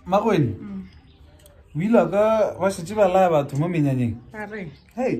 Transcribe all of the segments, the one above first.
magweni o ile ka ba šetse ba laya batho mo menyanyeng hei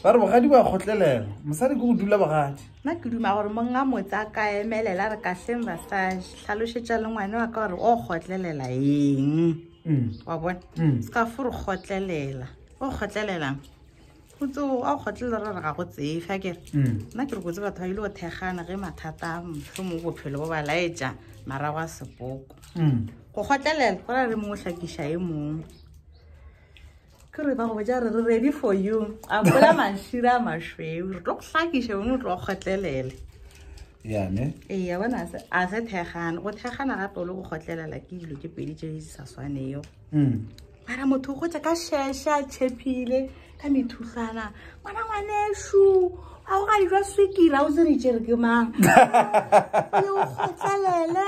ba re bogadi ba kgotlelela mosadi ke go dula bogadi nna ke duma gore monga motse a ka emelela re kahleng basadi tlhalošetša le ngwane wa ka gore o kgotlelela eng mm. wa bona mm. se ka fo re kgotlelela o kgotlelelang o tse o a kgotlela ra re ga go tsefe a kere mm. nna ke re kotse batho ba ile go thekgana ge mathata motlho mo bophelo bo ba laetša marago a sepoko mm. go kgotlelela go ra re mongwe hlakiša e mongwe ke re ba go boja re re ready for you a bola mašira a mašweu re tlo go hlakiša bone o tlo kgotlelele yame eya bona se a se thekgana go thekgana gape o le go kgotlelela ke dilo ke pedi tše di sa swaneyo hmm. mara motho o gotsa ka sheshe a tšhephile ka methutlwana ngwana ngwanešu a go ga dijo swekira o se re tšere ke mang o kgotlelele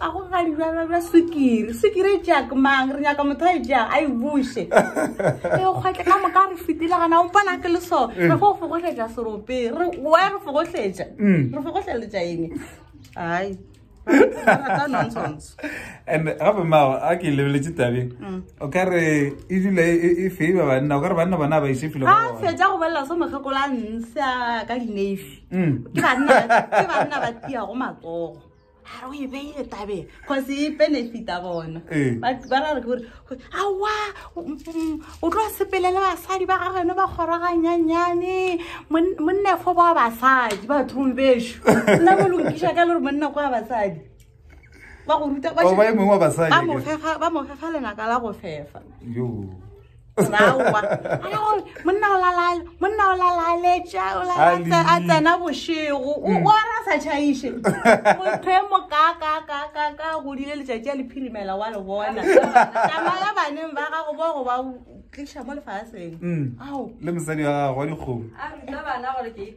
a go ga dijalo bja sukiri sukiri e tšea ke mang re nyaka motho a e tšea a e buse e kgwetle ka moka re fetile gana o mpona ke le so mm. re fo o fogohletša serope re wa re fogohletša mm. re fogohleletša eng ai and gape mao a ke lebeletse tabeng mm. o ka re e dula e, e, e feiba banna o ka re banna bona ba ise filo a fetsa go bolela so mokgakola nsa ka dinefi ke banna ba tia go matsogo are o e beile tabeng cause e benefita bona ee. ba ra re ke gore awa mm, mm, o tlo sepele le basadi ba gageno ba kgoraganyanyane monnefo ba basadi bathong beso nna mo lokiša ka le gore monna kwa basadi ba go ruta ba mofefa lenaka la go fefa monna o lalala monna o lalaletša o lalatsa a tsena bošego o mm. ora sa tšhaiše motho e mokakakakaka godile letšatši a le phirimela wa le bona tsamaya baneng ba gago bo go ba tliša mo lefaseng mm. ao le mosadi wa gago wa dikgomo a rutla bana gore ke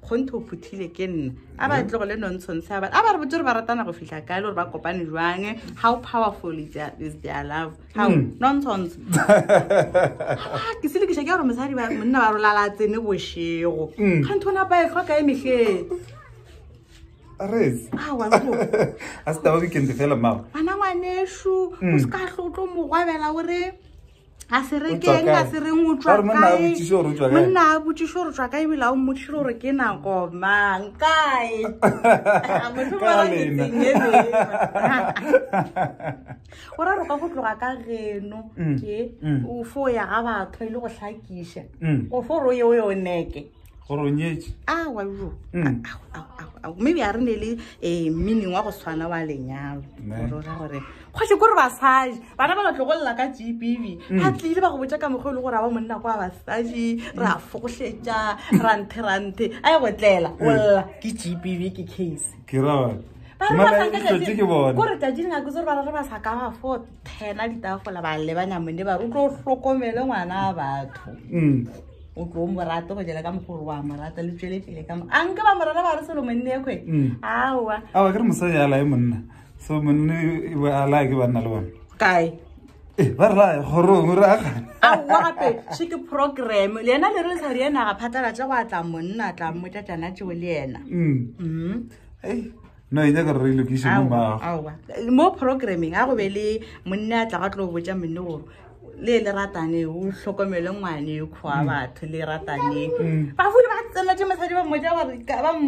kgonthe o phuthile ke nna a ba tlogo le nontshontshe a ba re botse gore ba ratana go fitlha kae le gore ba kopane jwange how powerful is their love how hmm. nontshontshe ah, ke selekiša ke gore mosadi monna ba rolala tsene bošego hmm. kganthe o ne a ba e tlhoka e metlheng a se taba weekend fela mao ana ngwanešu o hmm. se ka tlotlo mogwabela o re a se re keng a se reng o tswa monna a botsiso gore o tswa kae monna a botsiso gore tswa kae bila o mmotsise gore ke nako mang kae motho ba la lena o ra roka go tloga ka geno mm, ke mm. o fo ya ga batho ile e go hlakisha mm. o fo ro ye o yo neke goronyetše awa jo mm. maybe a re ne le um meaning wa go tshwana wa lenyalo ora gore kgoši kore basadi bana ba batlogolela ka gb mm. a tlile ba go botsa ka mokgwa e le gore a ba monna kwa basadi re a fogošetša ranthe ranthe a ye go tlela mm. olela ke gb ke case kore tajing a ke tsore ba re re ba sa ka ba fote phena ditafola ba lebanya mone ba o tlo hlokomele ngwana a batho mm. o tlo o morate go jela ka mogolo wa morata le tswele pele ka a nke ba morana ba re selo monne ekwe mm. aowa awa ke re mosadi a lae monna so monne a lae ke banna le bone kae eh, ba re lae gorong re agane aowa gape se ke program le ena le re sa rienaga phatalatsa go a tla monna tla mmotsa tsana tseo le ena mm. no e nyaka re lokise mo mago aowa mo programming a go be le monne a tla ga tlo botsa monne gore le le ratane o tlhokomele ngwane kgoa mm. batho le ratane mm. ba fule ba tsena tse mosadi ba mmotsa gore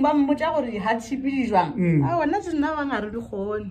ba mmotsa gore ha tshipi di jwang mm. a ona se nna ba ngare di gone